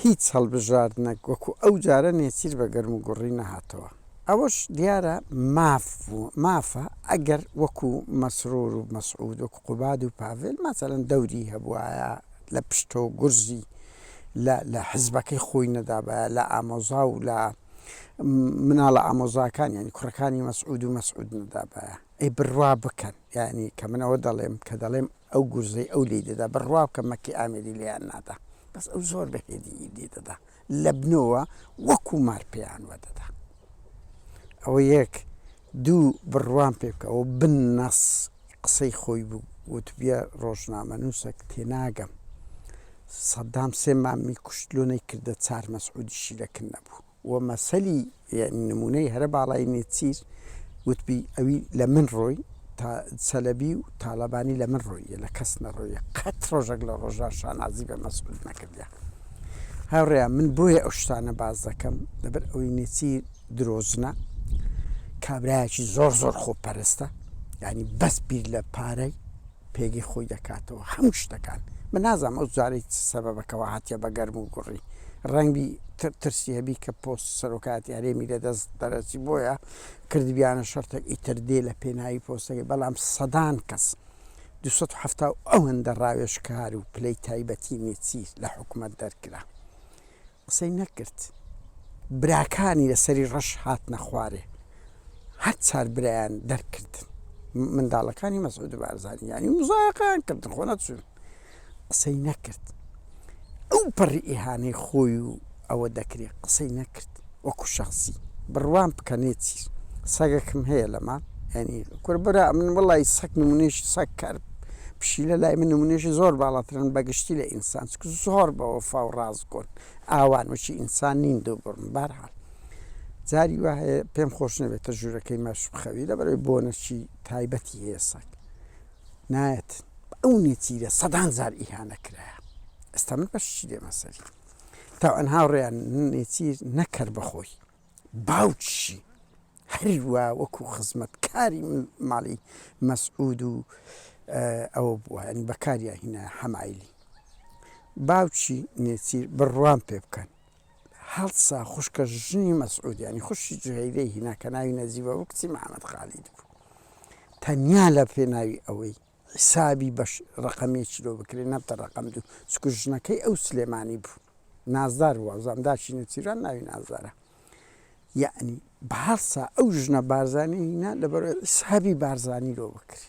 هیچ هەڵبژاردنەک وەکو ئەو جارە نێچیر بە گەرموگوڕی نەهاتەوە، ئەوەش دیارە ماف بوو، مافە ئەگەر وەکو مەسرور و مەسعود وەکو قوباد و پاڤێل مەسەلەن دەوری هەبوایە لە پشتۆ گورزی لە لە حزبەکەی خۆی نەدابایە لە ئامۆزا و لە مناڵە ئامۆزاکان یانی کوڕەکانی مەسعود و مەسعود نەدابایە. ئەی بڕوا بکەن یانی کە من ئەوە دەڵێم کە دەڵێم ئەو گورزەی ئەو لێی دەدا بڕوا بکە مەکی ئامێری لێیان نادا بەس ئەو زۆر بە هێدیی لێ دەدا لە بنەوە وەکوو مار پێیان وەدەدا ئەوە یەک دوو بڕوام پێ بکە ئەوە بن نەس قسەی خۆی بوو وتبیە ڕۆژنامەنووسەک تێناگەم سەدام سێ مامی کوشت لۆ نەیکردە چار مەسعودیشی لە کن نەبوو. و مەسەلی یەعنی نموونەی هەرە باڵای نێچیر وتبی ئەوی لە من ڕۆی تا چەلەبی و تاڵەبانی لە من ڕۆییە لە کەس نەڕۆییە قەت ڕۆژەک لە ڕۆژا شانازی بە مەسعود نەکردە هاوڕێیان من بۆیە ئەو شتانە باز دەکەم لەبەر ئەوی نێچیر درۆزنە کابرایەکی زۆر زۆر خۆپەرستە یعنی بەس بیر لە پارەی پێگەی خۆی دەکاتەوە هەموو شتەکان من نازانم ئەو جارەی چ سەبەبەکەوە هاتیە بە گەرم و گوڕی ڕەنگبی ترسی هەبی کە پۆست سەرۆکایەتی هەرێمی لە دەست دەرەچی بۆیە کردبیانە شەرتێک ئیتر دێ لە پێناوی پۆستەکەی بەڵام سەدان کەس دوو سەد و حەفتا و ئەوەندە ڕاوێژکار و پلەی تایبەتی نێچیر لە حکومەت دەرکرا قسەی نەکرد براکانی لەسەری ڕەش هاتنە خوارێ هەر چار برایان دەرکردن منداڵەکانی مەسعود بارزانی یانی مزایقیان کردن خۆ نەچون قسەی نەکرد ئەو پەڕی ئیهانەی خۆی و ئەوە دەکرێت قسەی نەکرد وەکو شخصی بڕوان بکەنێتی سەگەکم هەیە لەمان ینی کوربرا من وڵی سەک نمونێشی سەک کار پشیلە لای من نمونێشی زۆر باڵاترن بەگشتی لە ئینسان زۆر بەوە فاو ڕاز کورد ئاوان وەکی ئینسان نین دوو بڕن بەهەرحاڵ جاری وا هەیە پێم خۆش نەبێتە ژوورەکەی ماش بخەوی لەبەرەوەی بۆنەکی تایبەتی هەیە سەگ نایەت ئەو نێچیرە سەدان جار ئیهانە کرایە ئێستا من بەشی دێمە سەری تاوان هاوڕێیان نێچیر نەکەر بەخۆی باوکیشی هەروا وەکو خزمەتکاری ماڵی مەسعود و ئەوە بووە یانی بەکاریا هینا حەمایلی باوکی نێچیر بڕوام پێ بکەن هەڵسا خوشکە ژنی مەسعود ینی خوشی جوهیرەی هیناکە ناوی نەزیبە بۆ کچی محەممەد خالید بوو تەنیا لە پێناوی ئەوەی حیسابی بەش ڕەقەم یەکی لۆ بکرێ نەبتە ڕەقەم دوو چونکو ژنەکەی ئەو سلێمانی بوو نازدار بوو وازام داکی نەچیران ناوی نازدارە یەعنی بەهەڵسا ئەو ژنە بارزانی هینا لەبەرۆی حیسابی بارزانی لۆ بکرێ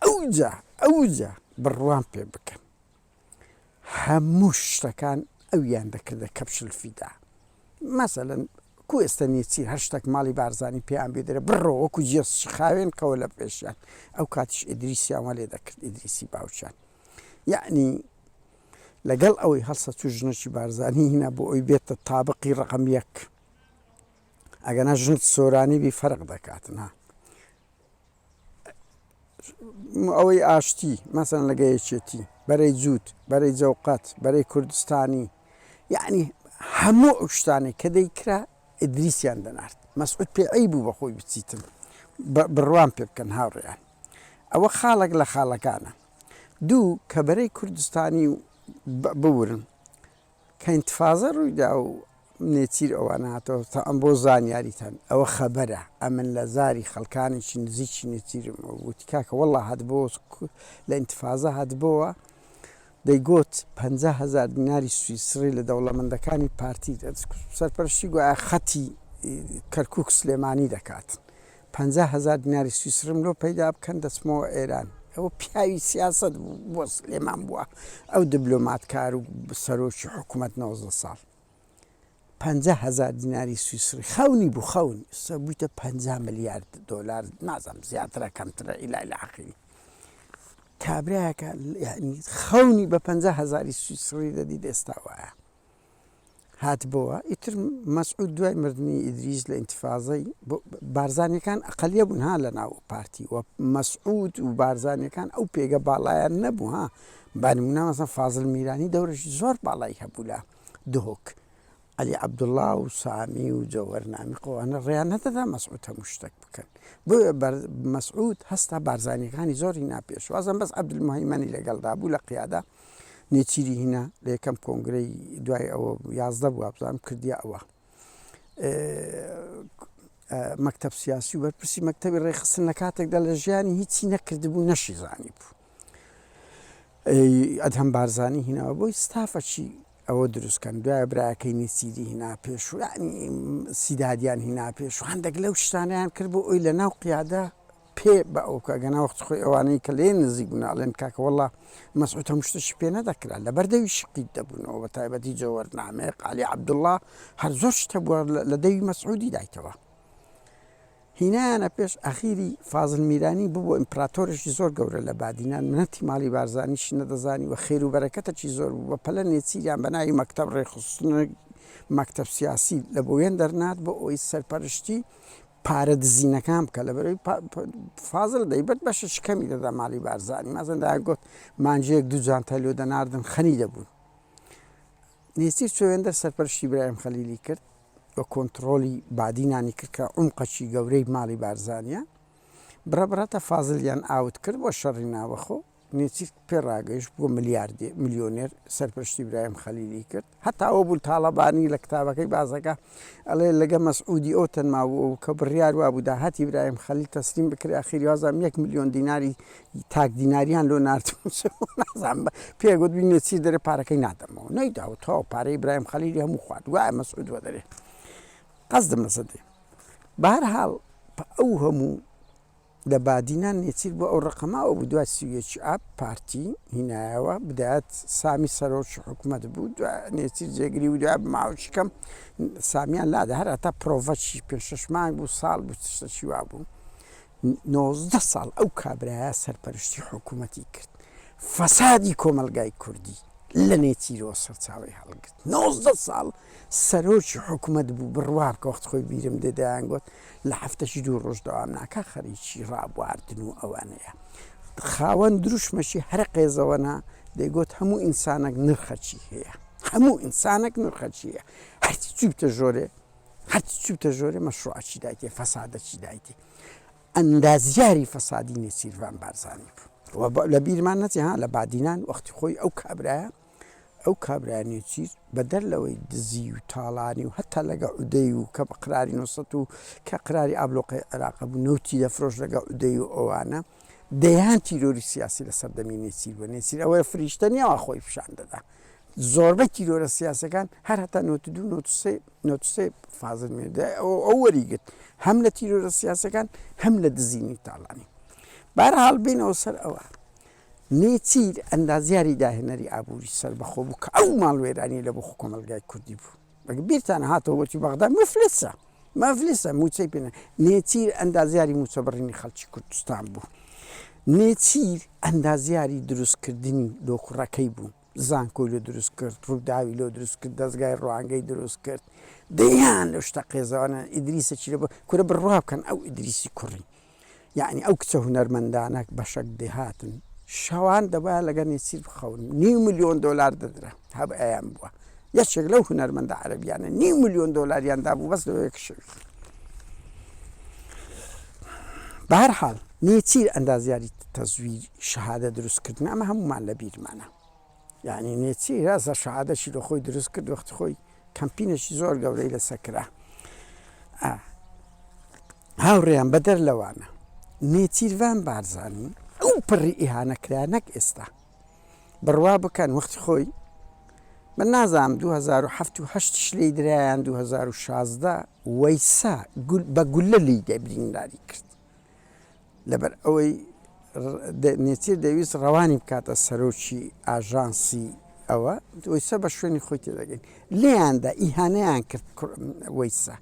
ئەوجا ئەوجا بڕوام پێ بکەن هەموو شتەکان ئەویان دەکردە کەپش الفدا مەسەلەن کو ئێستە نێچیر هەر شتەک ماڵی بارزانی پێیان بێدرێ بڕۆ وەکو جێسش خاوێن قەوە لە پێشیان ئەو کاتیش ئیدریسیان وە لێ دەکرد ئیدریسی باوچان یعنی لەگەڵ ئەوەی هەڵسە چوو ژنەکی بارزانی هینا بۆ ئەوی بێتە تابقی ڕقم یەک ئەگەنا ژنت سۆرانی بی فەرق دەکاتنا ئەوەی ئاشتی مەسەن لەگە یەکێتی بەرەی جووت بەرەی جەوقەت بەرەی کوردستانی یەعنی هەموو ئەو شتانەی کە دەیکرا ئیدریسیان دەنارد مەسعود پێ عەیب بوو بە خۆی بچیتن بڕوام پێ بکەن هاوڕێیان ئەوە خاڵێک لە خاڵەکانە دوو کە بەرەی کوردستانی بورن کە ئینتفازە ڕوویدا و نێچیر ئەوان هاتەوە تەعەن بۆ زانیاریتان ئەوە خەبەرە ئەمن لە زاری خەڵکانێکی نزیکی نێچیرم وتی کاکە وەڵا هاتبۆ لە ئینتفازە هاتبۆوە دەیگۆت پەنجا هەزار دیناری سویسڕی لە دەوڵەمەندەکانی پارتی سەرپەرشتی گوایە خەتی کەرکوک سلێمانی دەکات پەنجا هەزار دیناری سویسرم لۆ پەیدا بکەن دەچمەوە ئێران. ئەوە پیاوی سیاسەت بوو بۆ سلێمان بووە ئەو دبلۆماتکار و سەرۆکی حکومەت نۆزدە ساڵ پەنجا هەزار دیناری سویسری خەونی بوو خەون ئێستا بوویتە پەنجا ملیارد دۆلار نازانم زیاترە کەمترە ئیلا لە عقیلی کابراەکە یعنی خەونی بە پەنجا هەزاری سویسری دەدیت ئێستا وایە هاتبۆوە ئیتر مەسعود دوای مردنی ئیدریس لە ئینتفازەی بارزانەکان ئەقلیە بوون ها لە ناو پارتی و مەسعود و بارزانەکان ئەو پێگە باڵایان نەبوو ها بانمونامەسە فازل میرانی دەورش زۆر باڵای هەبوو لە دهۆک علی عبدله و سامی و جەوەرنامی قوانە ڕێیان نەدەدا مەسعود هەموو شتێک بکەن بۆ مەسعود هەستا بارزانەکانی زۆری ناپێش وازم بەس عبدمهمەنی لەگەڵدا بوو لە قیادا نێچیری هینا لە یەکەم کۆنگرەی دوای ئەوە یازدە بوو بزانم کردیا ئەوە مەکتب سیاسی و بەرپرسی مەکتتەبی ڕێخستن لە کاتێکدا لە ژیانی هیچی نەکردبوو نەشی زانی بوو ئەدهەم بارزانانی هیناوە بۆی ستافەچی ئەوە دروستکەن دوای براکەی نێچیری هینا پێشوانی سیدادیان هینا پێشوان دەگلە و شتانیان کرد بۆ ئەوی لە ناو قیادە پێ بە ئەو کاکە ناوەخت خۆی ئەوانەی کە لێ نزیک بوون ئەڵێن کاکە وەڵا مەسعود هەموو شتێکی پێ نەدەکرا لەبەر دەوی شقیت دەبوونەوە بە تایبەتی جەوەر نامێق عەلی عەبدوڵا هەر زۆر شت هەبووە لە دەوی مەسعودی دایتەوە هینایانە پێش ئەخیری فازل میرانی ببوو ئیمپراتۆرێکی زۆر گەورە لە بادینان منەتی ماڵی بارزانیش نەدەزانی و خێر و بەرەکەتەکی زۆر بوو بە پەلە نێچیریان بە ناوی مەکتب ڕێخستنە مەکتب سیاسی لە بۆوێن دەرنات بۆ ئەوی سەرپەرشتی پارە دزینەکان بکە لەبەرەی فازل دەیبرد بەشەشی کەمی دەدا مالی بارزانی مازندایە گوت مانجەیەک دوو جانتای لۆ دەناردن خەنی دەبوون نێچیر چۆێندەر سەرپەرشتی برایم خەلیلی کرد بە کۆنتترۆلی بادینانی کرد کە عمقەچی گەورەی مالی بارزانە بڕە بڕەتە فازلیان ئاوت کرد بۆ شەڕی ناوەخۆ نێچیر پێ ڕاگەیشت بووە ملیاردێر، ملیۆنێر، سەرپەرشتی برایم خەلیلی کرد، هەتا ئەوە بوو تاڵەبانی لە کتابەکەی بازەکە ئەڵێ لەگە مەسعودی ئەوتن ماوو کە بڕیار وابوو داهاتی برایم خەلیل تەسلیم بکرێ ئەخیری وازام یەک ملیۆن دیناری تاک دیناریان لۆ ناردبوو چ بوو نازانم پێ گوتبی نێچیر دەرێ پارەکەی نادەمەوە نەیداو تەواو پارەی برایم خەلیلی هەموو خوارد گوایە مەسعود وەدەرێ قەزدم لەسەر دێ بەهەرحاڵ ئەو هەموو. دە بادینان نێچیر بۆ ئەو ڕقمە ئەو دوای سی و یەک ئاب پارتی هینایەوە بدایەت سامی سەرۆکی حکومەت بوو دوای نێچیر جێگری و دوای ماوەکی کەم سامیان لادا هەر هەتا پرۆڤەکی پێ شەش مانگ بوو ساڵ بوو تشتەکی وا بوو نۆزدە ساڵ ئەو کابرایە سەرپەرشتی حکومەتی کرد فەسادی کۆمەلگای کوردی لە نێچیرەوە سەرچاوەی هەڵگرت. نۆزدە ساڵ سەرۆکی حکومەت بوو بڕوا بکە وەخت خۆی بیرم دێ دەیانگۆت لە هەفتەش دوو ڕۆژ دەوام ناکا خەریکی ڕابواردن و ئەوانەیە خاوەن دروشمەشی هەرە قێزەوەنە دەیگۆت هەموو ئینسانەک نرخەکی هەیە هەموو ئینسانەک نرخەکی هەیە هەرچی چوو بتە ژۆرێ هەرچی چوو بتە ژۆرێ مەشروعەکی دایتێ فەسادەکی دایتێ ئەندازیاری فەسادی نێچیرڤان بارزانی بوو وە لە بیرمان نەچێ ها لە بادینان وەختی خۆی ئەو کابرایە ئەو کابرا نێچیر بەدەر لەوەی دزی و تاڵانی و هەتا لە گەعودەی و کە بە قراری نۆ سەد و کە قراری ئابلۆقەی عێراق بوو نەوتی دەفرۆشت لە گەعودەی و ئەوانە دەیان تیرۆری سیاسی لە سەردەمی نێچیر بووە نێچیر ئەوەیە فریشتە نیە وا خۆی پیشان دەدا زۆربەی تیرۆرە سیاسەکان هەر هەتا نۆت دوو نۆت سێ نۆت سێ فازل مێردە ئەو ئەو وەریگرت هەم لە تیرۆرە سیاسەکان هەم لە دزینی تاڵانی بارە هەڵبینەوە سەر ئەوە نێچیر ئەندازیاری داهێنەری ئابووری سەربەخۆ بوو کە ئەو ماڵوێرانی لە بۆ خۆ کۆمەڵگای کوردی بوو ئەگە بیرتانە هاتەوە وەتی بەغدا مفلسە مفلسە مووچەی پێ نە نێچیر ئەندازیاری مووچە بڕینی خەڵکی کوردستان بوو نێچیر ئەندازیاری دروستکردنی لۆ کوڕەکەی بوو. زانکۆی لۆ دروست کرد ڕوداوی لۆ دروست کرد دەزگای ڕوانگەی دروست کرد دەیان لەو شتە قێزەوەنە ئیدریسە چی لەبۆ کورە بڕوا بکەن ئەو ئیدریسی کوڕی یعنی ئەو کچە هونەرمەندانە بەشەک دێهاتن شەوان دەبا لەگە نێچیر بخەون نیو ملیۆن دۆلار دەدرا هەب ئەیان بووە یەکێک لەو هونەرمەندە عەربیانە نیو ملیۆن دۆلاریان دابوو بەس لەوەیەک شوی بەهر حاڵ نێچیر ئەندازیاری تەزویر شەهادە دروست کردن ئەمە هەموومان لە بیرمانە یعنی نێچی رازە شەهادەشی لە خۆی دروست کرد وەخت خۆی کەمپینێکی زۆر گەورەی لەسەر کرا هاوڕێیان بەدەر لەوانە نێچیرڤان بارزانانی ئەو پڕی ئیهانەکرا نەک ئێستا بڕوا بکەن وەخت خۆی من نازانم 2007 شلی درایان 2016 وەیسا بە گولە لی دەبرینداری کرد لەبەر ئەوەی نێچیر دەویست ڕەوانی بکاتە سەرۆکی ئاژانسی ئەوە ویسە بە شوێنی خۆی تێدەگەین لێیاندا ئیهانەیان کرد ویسە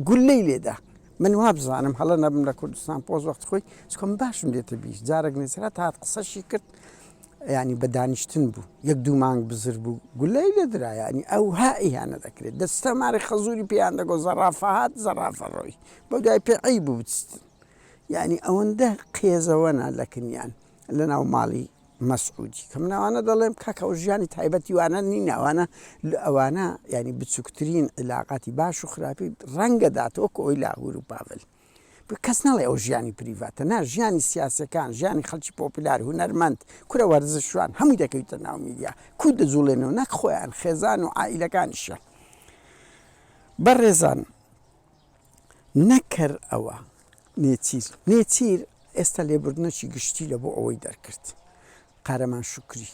گولەی لێدا من وا بزانم هەڵە نەبم لە کوردستان پۆز وەخت خۆی چکم باشم دێتە بیش جارێک نێسرا هاات قسەشی کرد یانی بە دانیشتن بوو یەک دوو مانگ بزر بوو گوللەی لێ درا یانی ئەو ها ئیهانە دەکرێ دەستە ماری خەزووری پێیان دەگۆ زەڕافە هات زەڕافە ڕۆی بەو دوای پێ عەیب بوو بچتن یانی ئەوەندە قێزەوە نا لە کنیان لە ناو ماڵی مەسعودی کە من ئەوانە دەڵێم کاکە ئەو ژیانی تایبەتی وانە نین ئەوانە لە ئەوانە یانی بچووکترین عیلاقاتی باش و خراپی ڕەنگە داتەوە کۆی لاهور و پاڤل. کەس ناڵێ ئەوە ژیانی پریڤاتە، نا ژیانی سیاسەکان، ژیانی خەڵکی پۆپیلار، هونەرمەند، کورە وەرزشوان هەمووی دەکەویتە ناو میدیا، کوو دەجوڵێنەوە نەک خۆیان خێزان و عائیلەکانیشیان. بەڕێزان نەک کەر ئەوە نێچیر نێچیر ئێستا لێبوردنەکی گشتی لە بۆ ئەوەی دەرکرد قارەمان شکری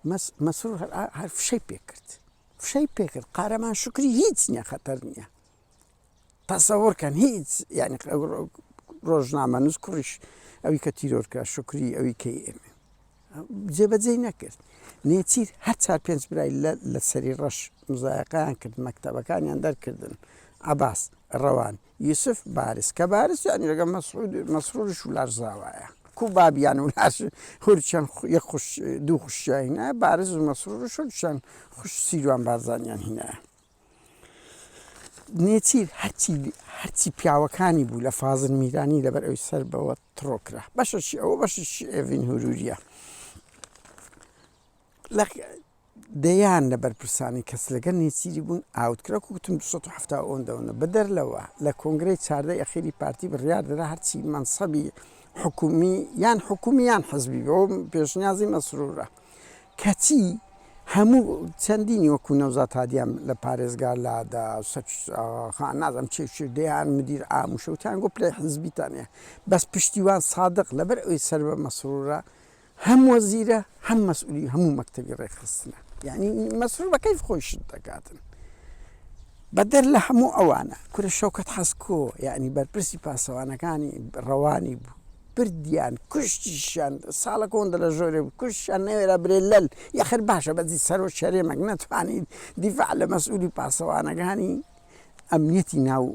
مەس مەسرور هەر هەر فشەی پێکرد فشەی پێکرد قارەمان شکری هیچ نییە خەتەر نییە تەسەور کەن هیچ یانی ڕۆژنامەنووس کوڕیش ئەوی کە تیرۆرکە شکری ئەوی کەی ئێمە جێبەجێی نەکرد نێچیر هەر چار پێنج برای لە سەری ڕەش مزایقیان کرد مەکتتەبەکانیان دەرکردن عباس ڕەوان یوسف بارز کە بارز یانی لەگە مەسعود مەسرورش و لارزاوایە کو بابیان و لاش هورچەند دوو خوشیان هینە بارز و مەسرور و شورچەند خوش سیروان بارزانیان هینە نێچیر هەرچی هەرچی پیاوەکانی بوو لە فازل میرانی لەبەر ئەوی سەر بەوە تڕۆ کرا بەشەشی ئەوە بەششی ئێڤین هوروریە لە دەیان لە بەرپرسانی کەس لەگە نێچیری بوون ئاوتکرا کوتم 1970 ئەوەندەوەە بدەر لەوە لە کۆنگرەی چاردە یەخیری پارتی بڕیار درا هەرچی مەسەبی حکومی یان حکومیان حزبی بۆ پێشنیازی مەسرورە. کەچی هەموو چەندینی وەکو نەوزاد هادیان لە پارێزگا لادا سەچ ئاغاخان نازانم چێ و چێ دەیان مدیر عام و شوتیان گۆ پلەی حیزبیتان هەیە بەس پشتیوان سادق لەبەر ئەوی سەر بە مەسرورە هەم وەزیرە هەم مەسئولی هەموو مەکتەبی ڕێکخستنە یانی مەسرور بە کەیف خۆی شت دەکاتن بەدەر لە هەموو ئەوانە کورە شەوکەت حەسکۆ یانی بەرپرسی پاسەوانەکانی ڕەوانی بوو. بردیان کوشتیشیان ساڵە کۆندە لە ژۆرێ بوو کوشتیان نەوێرا برێ لەل یەخر باشە بەزی سەرۆ شەرێمەک نەتوانی دیفاع لە مەسئولی پاسەوانەگانی ئەمنیەتی ناو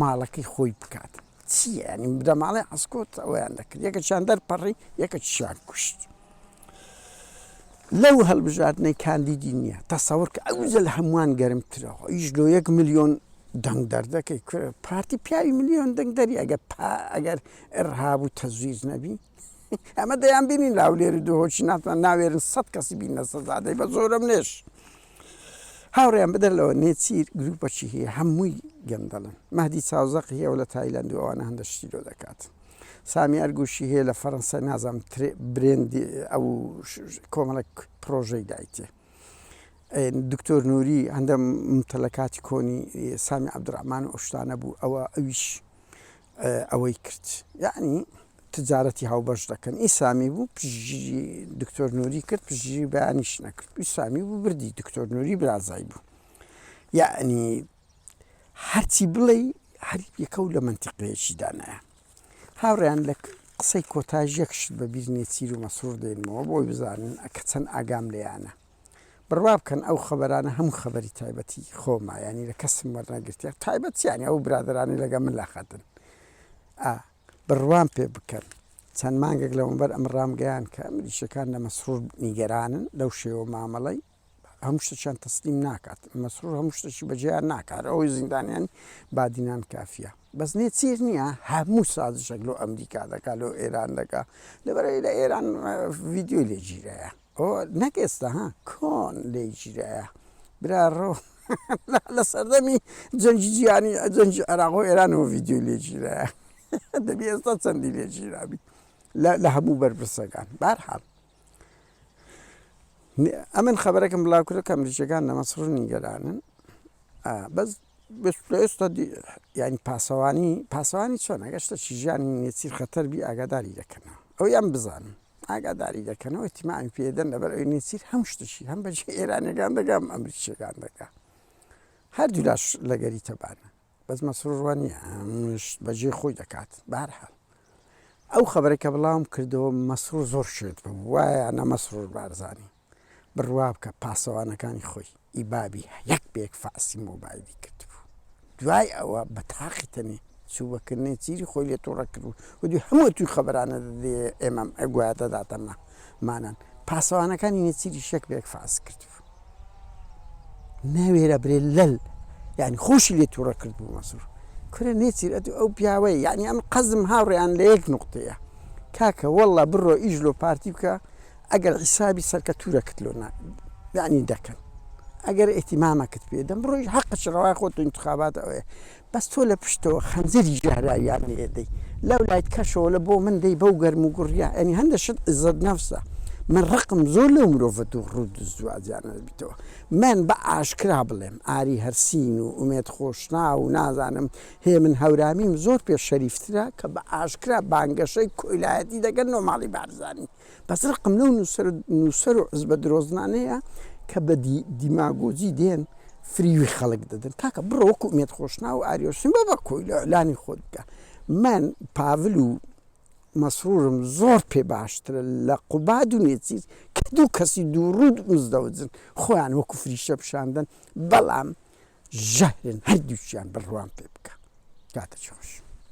ماڵەکەی خۆی بکات چییە ینی بدەماڵەی عسکۆت ئەویان دەکرد یەکەچیان دەرپەڕی یەکەچیان کوشت. لەو هەڵبژاردنەی کاندیدی نیە تەسەورکە ئەوجە لە هەموان گەرمترە ئیش لۆ یەک ملیۆن دەنگ دەردەکەی کورە پارتی پیاوی ملیۆن دەنگ دەری ئەگە پا ئەگەر ئڕهاب و تەزویز نەبی ئەمە دەیان بینین لاولێر و دهۆکی ناتان ناوێرن سەد کەسی بینە سەزادەی بە زۆرەملێش. هاوڕێیان بەدەر لەوە نێچیر گروپەکی هەیە هەمووی گەندەڵن مەهدی چاوزەق هەیە و لە تایلەند و ئەوانە هەندە شتی لۆ دەکات سامی ئەرگوشی هەیە لە فەرەنسای نازام برێندی ئەو کۆمەڵک پرۆژەی دایتێ دکتۆر نووری هەندە متەلەکاتی کۆنی سامی عبدڕحمان و ئۆشتانە بوو ئەوە ئەویش ئەوەی کرد یەعنی تجارەتی هاوبەش دەکەن ئیسامی بوو پشگیری دکتۆر نوری کرد پشگیری بەیانیش نەکرد ئیسامی بوو بردی دکتۆر نوری برازای بوو یعنی هەرچی بڵێ هەر یەکە و لە منتیقەیەکی دانایە هاوڕیان لە قسەی کۆتاژ یەکشت بە بیرنێ چیر و مەسرور دێنمەوە بۆی بزانن ئەکە چەند ئاگام لێیانە بڕوا بکەن ئەو خەبەرانە هەموو خەبەری تایبەتی خۆمە یانی لە کەسم وەرنەگرتیە تایبەت چیانی ئەو برادرانی لەگە من لاخەتن ئا بڕوام پێ بکەن چەند مانگێک لەمەبەر ئەم ڕامگەیان کە ئەمریشەکان لە مەسرور نیگەرانن لەو شێوە مامەڵی هەموو شتەشان تەسلیم ناکات مەسرور هەموو شتەشی بەجێیان ناکار ئەوەی زیندانیان بادینان کافیە بەس نێ چیر نییە هەموو سازشێک لۆ ئەمریکا دەکات لۆ ئێران دەکات لەبەرەی لە ئێران ڤیددیوی لێگیرەیە ئۆ نەک ئێستا ها کۆن لێی گیرایە برا ڕۆ لە سەردەمی جەنگی جیانی جەنگی عێراق و ئێرانەوە ڤیدیۆی لێ گیرایە دەبی ئێستا چەندی لێ گیرابی لە هەموو بەرپرسەکان بارحاڵ ئەمن خبرەکەم بڵاوکرە کە ئەمریکیەکان لە مەسڕ نیگەرانن بەس بێشکستە دی یانی پاسەوانی پاسەوانی چۆن ئەگەر شتەکی ژیانی نێچیر خەتەر بی ئاگاداری دەکەنەوە ئەوەی ئەم بزانن ئاگاداری دەکەنەوە تیماعی پێدەن لەبەر ئەوی نێچیر هەم شتەکی هەم بەجی ئێرانەکان دەگەم ئەمریکیەکان دەکە هەردوولاش لەگەری تەبانە بەس مەسرڕوانیە منشت بەجێ خۆی دەکات بارحال ئەو خبرەکە بڵاوم کردەوە مەسرور زۆر شێت بوو وایە نە مەسرور بارزانانی بڕوابکە پاسەوانەکانی خۆی ی بابی یەک بەیەک فەحسی مۆبایلی کردبوو دوای ئەوە بەتاقی تەنێ چوو بە کرنێ چیری خۆی لێ توڕە کردبوو و دوی هەموو توی خەبەرانە دەدەیێ ئێمە گوایە تەداتە ما مانان پاسەوانەکانی نێچیریش یەک بەیەک فەحس کردبوو ناوێرا برێ لەل یعنی خۆشی لێ توڕە کردبوو مەسور کورە نێچیر ئەتو ئەو پیاوەیە یعنی ئەم قەزم هاوڕێیان لە یەک نوقتەیە کاکە وەڵا بڕۆ ئیش لۆ پارتی بکە ئەگەر حیسابی سەرکەتورەکت لۆ نا یەعنی دەکەن ئەگەر ئیتیمامەکت پێ دەم ڕۆژ حەقش ڕەوای خۆت و انتخابات ئەوێ بەس تۆ لە پشتەوە خەنجەری ژەهراویان لێ دەی لەو لایت کەشەوە لە بۆ من دەی بەو گەرم و گوڕیا ئەنی هەندە شت عزەت نەفسە من ڕقم زۆر لەو مرۆڤە دوو ڕوو دزدوازیانە بیتەوە من بە ئاشکرا بڵێم ئاری هەرسین و ئومێد خۆشناو و نازانم هێمن هەورامیم زۆر پێ شەریفترە کە بە ئاشکرا بانگەشەی کۆیلایەتی دەکەن نۆ ماڵی بارزانی بەس ڕقم لەو نوسەر نوسەر و حزبە درۆزنانەیە کە بە دی دیماگۆجی دێن فریوی خەڵک دەدەن کاکە بڕۆ وەکو ئومێد خۆشناو و ئاری ئۆشتین بە بە کۆیلە ئیلانی خۆت بکە من پاڤل و مەسرورم زۆر پێ باشترە لە قوباد و نێچیر کە دوو کەسی دوو ڕوود مزدەوجن خۆیان وەکو فریشتە پیشان دەن بەڵام ژەهرن هەردووکیان بڕوام پێ بکە کاتەکی خۆش.